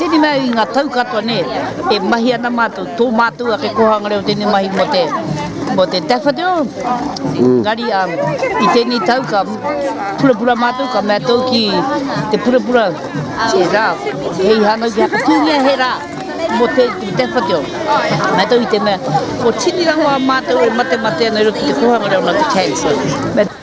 Tēnei mea i ngā tau katoa nē, e mahi ana mātou, tō mātou ake kōhanga reo tēnei mahi mō te, mō te daffodil, engari i tēnei tau ka purapura mātou, ka mea tau ki te purapura he rā, hei hānau ki Hakatūngia he rā mō te daffodil. Mea tau i te mea, ko tini rawa mātou e matemate ana i roto i te kōhanga reo nā te Chancellor.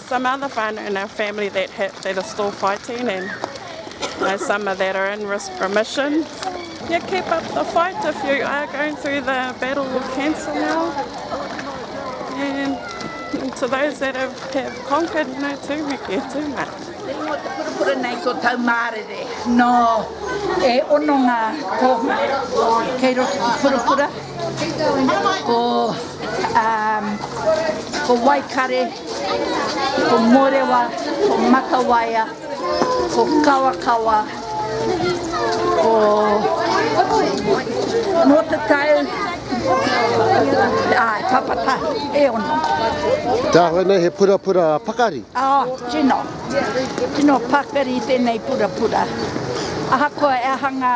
Some other whānau in our family that hit that are still fighting and you know some are that are in risk remission. Yeah keep up the fight if you are going through the battle with cancer now and to those that have, have conquered no tūheke tūma. Te ingoa te purapura nei ko tau mārere. No, e ono ngā kōhua kei roto ki purapura. Ko, um, ko waikare, Ko Morewa, ko Matawaia, ko Kawakawa, ko Motatau, āe, Papatahi, e ono. Te āhua nei he purapura pakari? Oh, tino. Tino pakari tēnei purapura. Ahakoa e aha ngā.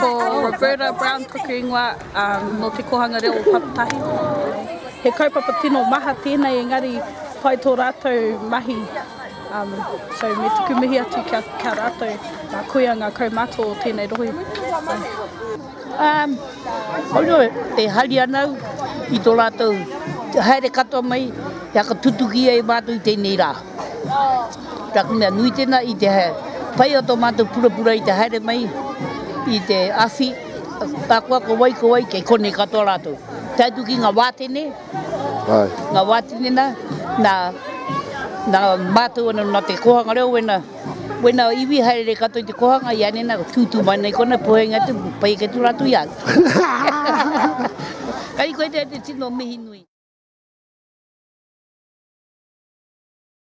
Ko Roberta Brown taku ingoa, nō te kōhanga reo o Papatahi. He kaupapa tino maha tēnei engari pai tō rātou mahi, so me tuku mihi atu kia rātou, nā koia ngā kaumātua o tēnei rohe. Koia e hari ana au i tō rātou haere katoa mai kia tutuki ai mātou i tēnei rā. Nā te mea nui tēnā i te pai o tō mātou purapura i te haere mai i te awhi akoa ko wai ko wai kei konei katoa rātou. Tae atu ki ngā wātene, ngā wātene nā, nā, nā mātou ana nā te kōhanga reo wēnā, wēnā iwi haere katoa i te kōhanga i anei nā tūtū mai nei kona pohenga atu, pai ake atu rātou i a au. Kai koe te tino mihi nui.